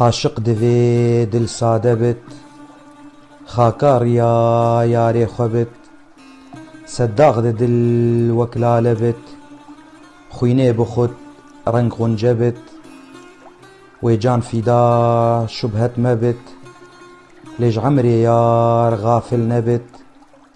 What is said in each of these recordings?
Aşiq divê dil sade bit Xaka riya yarê xwe bit Se dax di dil wek lale bit Xwînê bi xwt reng xunce bit Wê can fîda şubhet me bit Lê ji emrê yar xafil nebit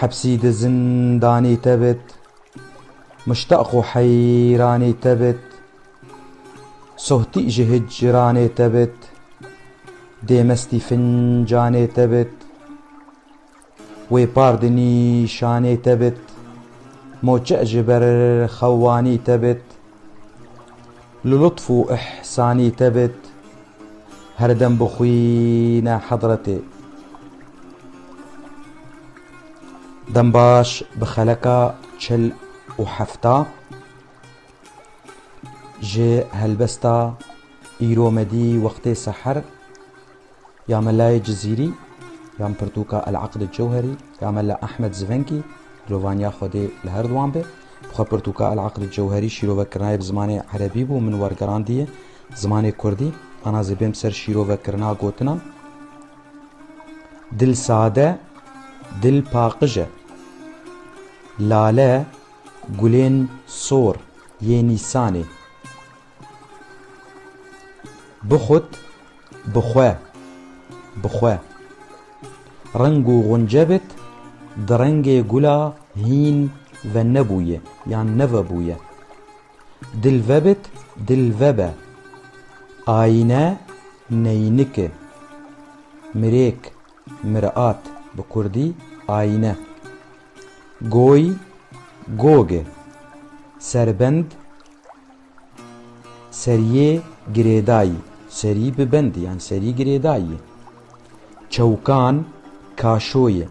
Hepsî di zindanê te bit. Muştaq û heyranê te bit. Sohtî ji hicranê te bit. Dê mestî fincanê te bit. Wê par di nîşanê te bit. Moçe ji ber xewanî te bit. Li lutf û îhsanî te bit herdem bixwîne hezretê. Dembaş bi xeleka çil û hefta ji helbesta îro me dî wextê seher. Ya Melayê Cizîrî, ya Pirtûka El Eqd Cewherî, ya Mela Ehmed Zvenkî, Dilovaniya Xwedê li her di wan be. Bi xwe Pirtûka El Eqd Cewherî şîrovekirina ye bi zimanê Erebî bû, min wergerandiye zimanê Kurdî. Ana zê bêm ser şîrovekirina gotinan. Dil sade, dil paqij e. Lale, gulên sor, yê Nîsanê. Bi xut, bi xwe, bi xwe. Reng û xunce bit di rengê gula hîn ve nebûye yan nevebûye. Dil ve bit dil ve be. Ayîne, neynike. Mirêk, mirat, bi kurdî, ayîne. Goy, gog e. Serbend, Seriyê girêdayî, serî bi bind yan serî girêdayî ye. Çewkan kaşo ye,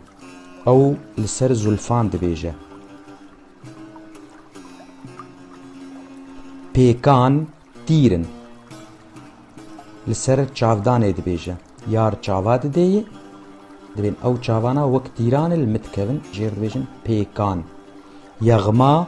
ew li ser zulfan dibêje. Pêkan tîr in, li ser çavdanê dibêje. Yar çava didê yê, dibên ew çavana wek tîran e li min dikevin jê re dibêjin pêkan. Yexma.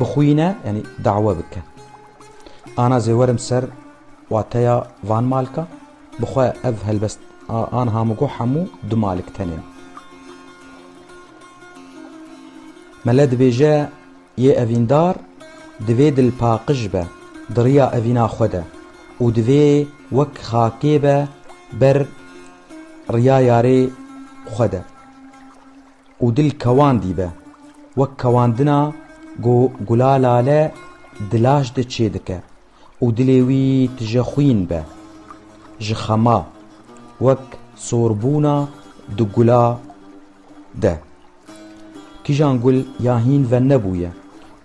Bixwîne yanî dawe bike. Ana zê werim ser wateya van malka bi xwe ev helbest an hamugo hemû du malik tenên. Mele dibêje yê evîndar divê dilpaqij be di riya evîna xwe de û divê wek xakê be ber riya yarê xwe de. Û dil kewan dîbe. Wek kewandina ku gula lale di laş de çê dike û dilê wî tije xwîn be. Ji xema. Wek sorbûna di gula de. Kîjan gul ya hîn ve nebûye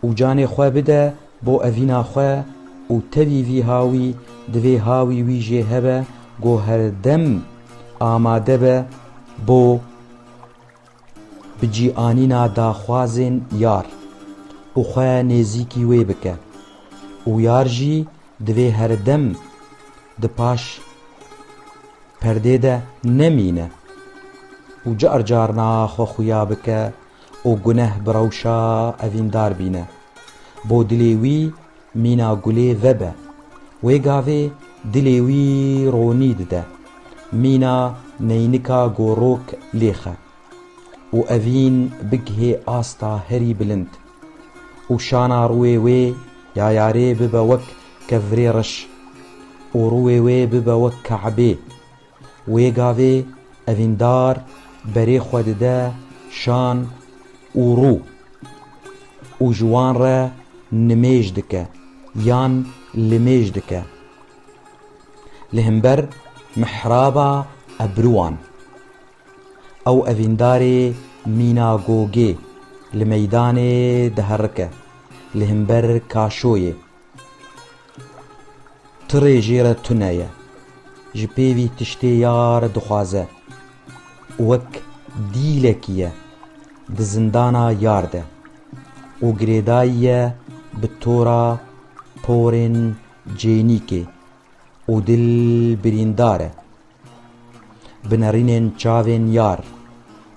û canê xwe bide bo evîna xwe û tevî vî ha wî divê ha wî wî jê hebe ku herdem amade be bo bi cî anîna daxwazên yar û xwe nêzîkî wê bike û yar jî divê herdem di paş perdê de nemîne û car carna xwe xuya bike û guneh bi rewşa evîndar bîne. Bo dilê wî Mîna gulê vebe. Wê gavê dilê wî ronî dide. Mîna neynika gorok lêxe û evîn bigihê asta herî bilind û şana rûê wê ya yarê bibe wek kevrê reş û rûê wê bibe wek Kabê. Wê gavê evîndar berê xwe dide şan û rû û ji wan re nimêj dike yan limêj dike li himber mihraba ebruwan. Ew evîndarê mîna gogê li meydanê diherike li himber kaşoyê. Tu rê jê re tune ye. Ji pêvî tiştê ya re dixwaze. Wek dîlekî ye di zindana yar de û girêdayî ye bi tora porên cênîkê û dil birîndar e Bi nerînên çavên yar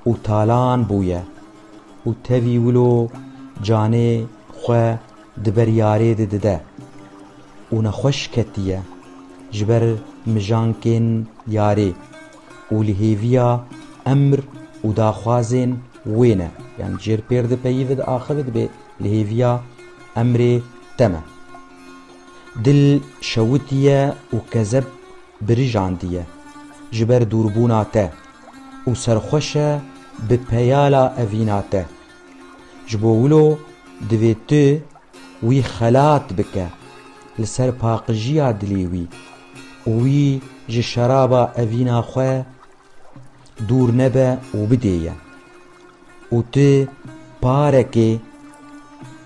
û talan bûye û tevî wilo canê xwe di ber yarê de dide û nexweş ketiye ji ber mijankên yarê û li hêviya emr û daxwazên wê ne. Yan jêr pêr di peyî ve di axê ve dibê li hêviya emrê te me. Dil şewitiye û kezeb birijandiye ji ber dûrbûna te û serxweş e bi peyala evîna te. Ji bo wilo divê tu wî xelat bike li ser paqijiya dilê wî û wî ji şeraba evîna xwe dûr nebe û bidê ye. Û tu parekê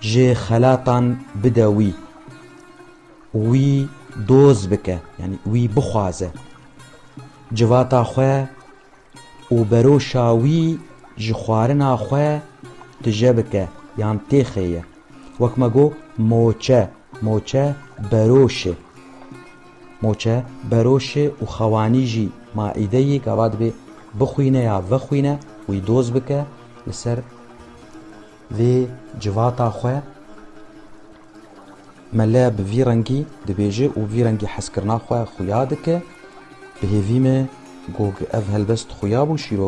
ji xelatan bide wî. Wî doz bike yanî wî bixwaze civata xwe û beroşa wî ji xwarina xwe tije bike yan têxêye. Wek me got moçe, moçe beroş e. Moçe beroş e û xewanî jî maîdeyê gava dibê bixwîne ya vexwîne wî doz bike li ser vê civata xwe. Mele bi vî rengî dibêje û vî rengî hezkirina xwe xuya dike, bi hêvî me got ev helbest xuya bû şîrove.